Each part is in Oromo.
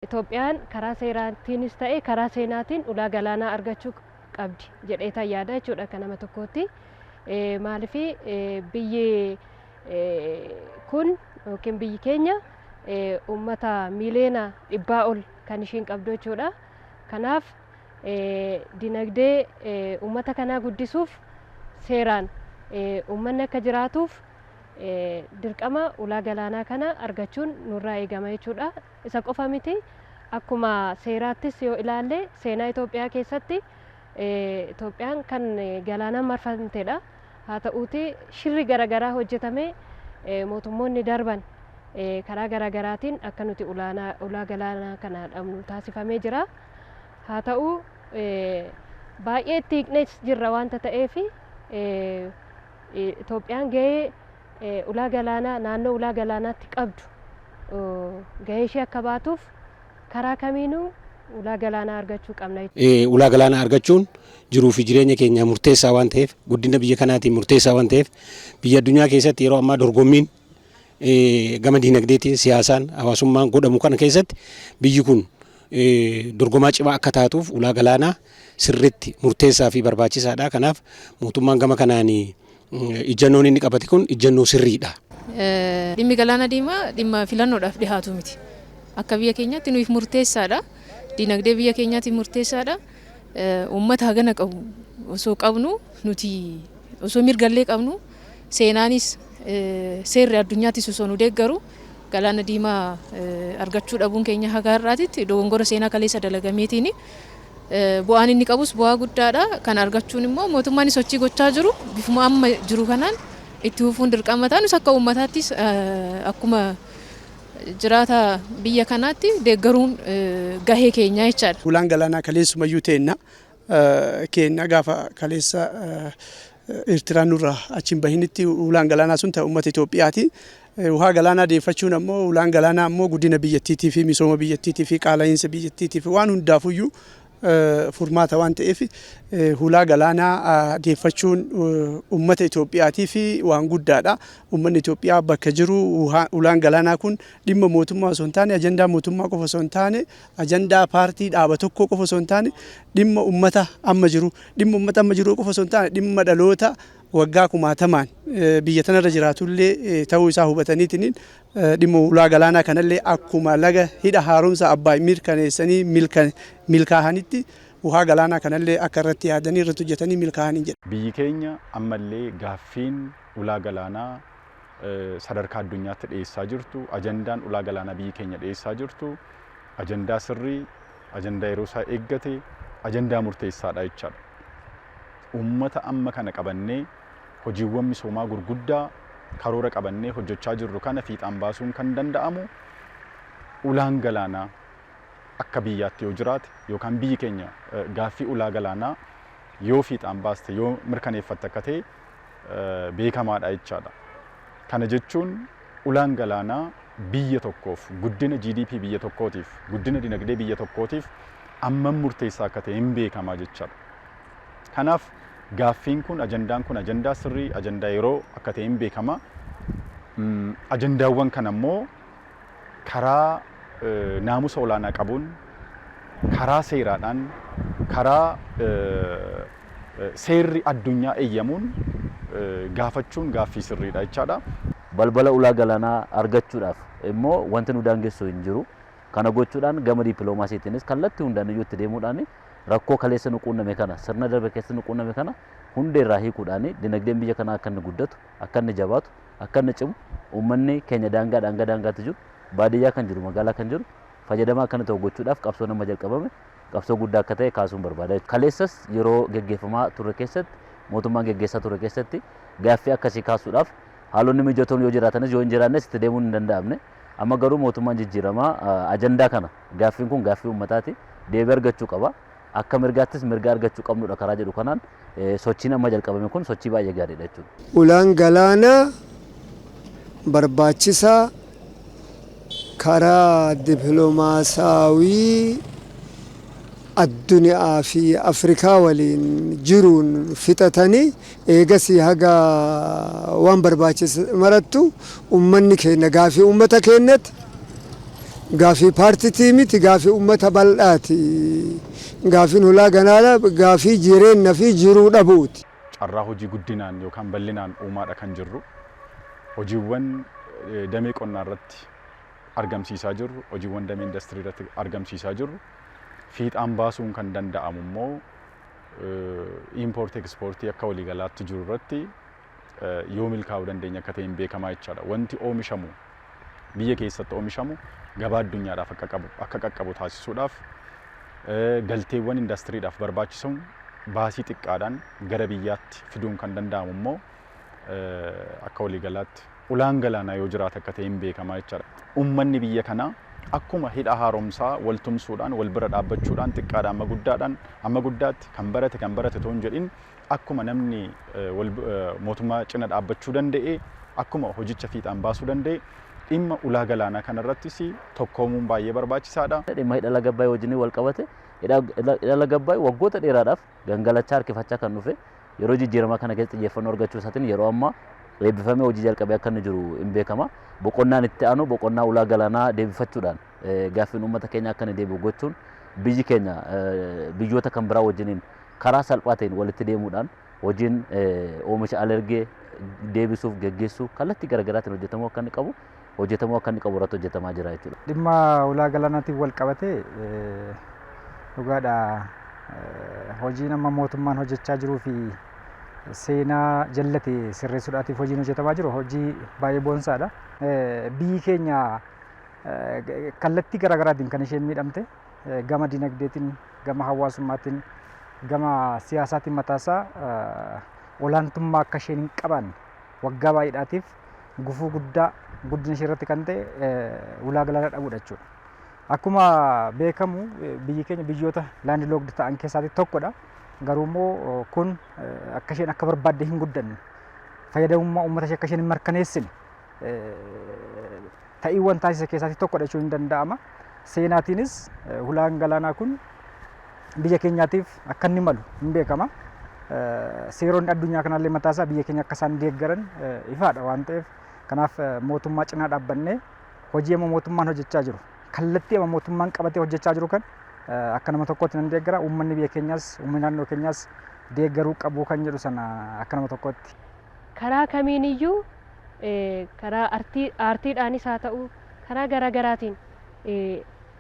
Itoophiyaan karaa seeraatiinis ta'e karaa seenaatiin ulaa galaanaa argachuu qabdi jedheetan yaada jechuudha akka nama tokkootti. Maaliif biyyi kun yookiin biyyi keenya uummata miiliyoona dhibbaa ol kan ishiin qabdu jechuudha. Kanaaf dinagdee uummata kanaa guddisuuf seeraan uummanni akka jiraatuuf dirqama ulaa galaanaa kana argachuun nurraa eegama jechuudha. Isa qofa miti, akkuma seeraattis yoo ilaalle seenaa Itoophiyaa keessatti Itoophiyaan kan galaanaan marfamtedha. Haa ta'uutii shirri garagaraa hojjetamee mootummoonni darban karaa garagaraatiin akka nuti ulaa galaanaa kana dhabnu taasifamee jira. Haa ta'u baay'ee itti hiiqnees jirra waanta ta'eef Itoophiyaan gahee ulaa galaanaa naannoo ulaa galaanaatti qabdu gahee ishee akka baatuuf karaa kamiinuu ulaa galaanaa argachuu qabna. Ulaa galaanaa argachuun jiruu fi jireenya keenyaaf murteessaa waan ta'eef, guddina biyya kanaatiif murteessaa waan ta'eef, biyya addunyaa keessatti yeroo ammaa dorgommiin gama diinagdeetiin, siyaasaan, hawaasummaan godhamu kana keessatti biyyi kun dorgomaa cimaa akka taatuuf ulaa galaanaa sirriitti murteessaa fi barbaachisaadha. Kanaaf mootummaan gama kanaan Ijjannoon inni qabate kun ijjannoo sirriidha. Dhimmi Galaana Diimaa dhimma filannoodhaaf dhihaatu miti. Akka biyya keenyaatti nuyiif murteessaadha. Dinagdee biyya keenyaatiif murteessaadha. Uummata hagana qabu osoo qabnu nuti osoo mirgallee qabnu seenaanis seerri addunyaattis osoo nu deeggaru Galaana Diimaa argachuu dhabuun keenya haga har'aatitti dogongora seenaa kaleessa dalagameetiin Bu'aan inni qabus bu'aa guddaadha. Kana argachuun immoo mootummaan sochii gochaa jiru bifuma amma jiru kanaan itti fufuun dirqama ta'a. Nus akka uummataattis akkuma jiraata biyya kanaatti deeggaruun gahee keenyaa jechaadha. Hulaan galaanaa kaleessumayyuu teenna. Keenna gaafa kaleessa Eertiraan nurraa achi hin bahinitti hulaan galaanaa sun ta'e uummata Itoophiyaati. Wuhaa galaanaa deeffachuun ammoo hulaan galaanaa ammoo guddina biyyattiitii fi misooma biyyattiitii fi qaala'iinsa biyyattiitii fi waan hundaafuyyuu furmaata waan ta'eef hulaa galaanaa deeffachuun uummata Itoophiyaatii fi waan guddaadha. Uummanni Itoophiyaa bakka jiru hulaan galaanaa kun dhimma mootummaa osoo hin taane ajandaa mootummaa qofa osoo hin taane ajandaa paartii dhaaba tokkoo qofa osoo hin taane dhimma ummata amma jiru dhimma ummata amma jiru qofa osoo hin taane dhimma dhaloota waggaa kumaatamaan eh, biyya tanarra jiraatullee eh, ta'uu isaa hubataniitiin eh, dhimma ulaa galaanaa kanallee akkuma laga hidha haaromsa abbaay mirkaneessanii milka- milkaa'anitti uhaa galaanaa kanallee akka irratti yaadanii irratti hojjetanii milkaa'anii jedha. Biyyi keenya ammallee gaaffiin ulaa galaanaa sadarkaa addunyaatti dhiyeessaa jirtu, ajandaan ulaa galaanaa biyyi keenya dhiyeessaa jirtu ajandaa sirrii, ajandaa yeroo isaa eeggate, ajandaa murteessaadha jechaadha. Uummata amma kana qabannee hojiiwwan misoomaa gurguddaa karoora qabannee hojjechaa jirru kana fiixaan baasuun kan danda'amu ulaan galaanaa akka biyyaatti yoo jiraate yookaan biyyi keenya gaaffii ulaa galaanaa yoo fiixaan baaste yoo mirkaneeffatte akka ta'e beekamaadha jechaadha. Kana jechuun ulaan galaanaa biyya tokkoof, guddina GDP biyya tokkootiif, guddina dinagdee biyya tokkootiif ammam murteessaa akka ta'e hin beekamaa jechaadha. Kanaaf gaaffiin kun ajandaan kun ajandaa sirrii ajandaa yeroo akka ta'e hin beekama. Ajandaawwan kana immoo karaa naamusa olaanaa qabuun, karaa seeraadhaan, karaa seerri addunyaa eeyyamuun gaafachuun gaaffii sirriidha jechaadha. Balbala ulaa galaanaa argachuudhaaf immoo wanti nu daangessu hin jiru. Kana gochuudhaan gama dippiloomaasiitiinis kallattii hundaaniyyuu itti deemuudhaan rakkoo kaleessa nu quunname kana, sirna darbe keessatti nu quunname kana hundeerraa hiikuudhaan dinagdeen biyya kanaa akka inni guddatu, akka inni jabaatu, akka inni cimu, uummanni keenya daangaadhaa hanga daangaatti jiru, baadiyyaa kan jiru, magaalaa kan jiru fayyadamaa akka inni ta'u gochuudhaaf qabsoon amma jalqabame qabsoo guddaa akka ta'e kaasuun barbaada. Kaleessas yeroo geggeeffamaa turre keessatti, mootummaan geggeessaa ture keessatti gaaffii akkasii kaasuudhaaf haalonni mijatoon yoo jiraatanis yoo hin jiraannes itti deemuun hin danda'amne. Amma garuu mootummaan jijjiiramaa ajandaa kana gaaffiin kun gaaffii uummataati deebii argachuu qaba. Akka mirgaattis mirga argachuu qabnudha karaa jedhu kanaan sochiin amma jalqabame kun sochii baay'ee gaariidha jechuudha. Ulaan galaanaa barbaachisaa karaa diplomaasaawii addunyaa fi Afrikaa waliin jiruun fixatanii Eegasii haga waan barbaachise marattu ummanni keenna gaafii ummata keennati, gaafii paartitii miti, gaafii ummata baldhaati. Gaafiin hulaa ganaala gaafii jireenna fi jiruu dhabuuti. Carraa hojii guddinaan yookaan ballinaan uumaadha kan jirru. Hojiiwwan damee qonnaa irratti argamsiisaa jirru, hojiiwwan damee indastrii irratti argamsiisaa jirru fiixaan baasuun kan danda'amu immoo iimpoortii ekspoortii akka waliigalaatti jiru irratti yoo milkaa'uu dandeenya akka ta'e hin beekamaa jechaadha. Wanti oomishamu biyya keessatti oomishamu gabaa addunyaadhaaf akka qabu akka qaqqabu taasisuudhaaf galteewwan indastiriidhaaf barbaachisan baasii xiqqaadhaan gara biyyaatti fiduun kan danda'amu immoo akka waliigalaatti Ulaan galaanaa yoo jiraate akka ta'e hin beekama jechaadha. Ummanni biyya kanaa akkuma hidha haaromsaa wal tumsuudhaan, wal bira dhaabbachuudhaan xiqqaadhaa amma guddaadhaan, amma guddaatti kan barate kan barate otoo hin jedhin akkuma namni wal mootummaa cina dhaabbachuu danda'e, akkuma hojicha fiixaan baasuu danda'e dhimma ulaa galaanaa kanarrattis tokkoomuun baay'ee barbaachisaadha. Dhimma hidha laga Abbaay wajjin wal qabate hidha laga Abbaay waggoota dheeraadhaaf gangalachaa harkifachaa kan dhufe yeroo jijjiiramaa kana keessa xiyyeeffannoo argachuu isaatiin yeroo ammaa eebbifamee hojii jalqabee akka inni jiru hin beekama. Boqonnaan itti aanu boqonnaa ulaa galaanaa deebifachuudhaan gaaffiin uummata keenya akka inni deebi'u gochuun biyyi keenya biyyoota kan biraa wajjiniin karaa salphaa ta'een walitti deemuudhaan hojiin oomisha alergee deebisuuf geggeessuu kallattii garaagaraatiin hojjetamuu akka inni qabu hojjetamuu akka inni qabu irratti hojjetamaa jira jechuudha. Dhimma ulaa galaanaatiin wal qabatee dhugaadha hojiin amma mootummaan hojjechaa jiruu fi seenaa jallate sirreessuudhaatiif hojiin hojjetamaa jiru hojii baay'ee boonsaadha. Biyyi keenya kallattii garaagaraatiin kan isheen miidhamte gama dinagdeetiin, gama hawaasummaatiin, gama siyaasaatiin mataasaa olaantummaa akka isheen hin qabaanne waggaa baay'eedhaatiif gufuu guddaa guddina ishee irratti kan ta'e ulaa galaanaa dhabuudha jechuudha. Akkuma beekamu biyyi keenya biyyoota laandi lookdi ta'an keessaatii tokkodha. Garuu immoo kun akka isheen akka barbaadde hin guddanne fayyadamummaa uummata ishee akka isheen hin mirkaneessine ta'iiwwan taasise keessaatii tokkodha jechuun hin danda'ama. Seenaatiinis hulaan galaanaa kun biyya keenyaatiif akka inni malu hin beekama. Seeronni addunyaa kanaallee mataasaa biyya keenya akka isaan deeggaran ifaadha waan ta'eef kanaaf mootummaa cinaa dhaabbannee hojii amma mootummaan hojjechaa jiru kallattii amma mootummaan qabatee hojjechaa jiru kan akka nama tokkootti nan deeggara uummanni biyya keenyaas uummanni naannoo keenyaas deeggaruu qabu kan jedhu sana akka nama tokkootti Karaa kamiin iyyuu karaa artii aartiidhaanis haa ta'u karaa garaa garaatiin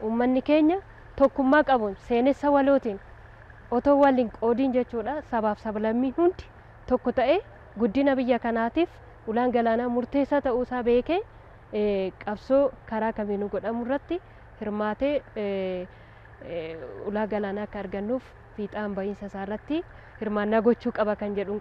uummanni keenya tokkummaa qabuun seenessa walootiin otoo wal hin qoodiin jechuudha sabaaf sablammiin hundi tokko ta'ee guddina biyya kanaatiif ulaan galaanaa murteessaa ta'uu isaa beekee qabsoo karaa kamiinuu godhamu irratti hirmaatee ulaa galaanaa akka argannuuf fiixaan ba'iinsa isaa irratti hirmaannaa gochuu qaba kan jedhuun qaba.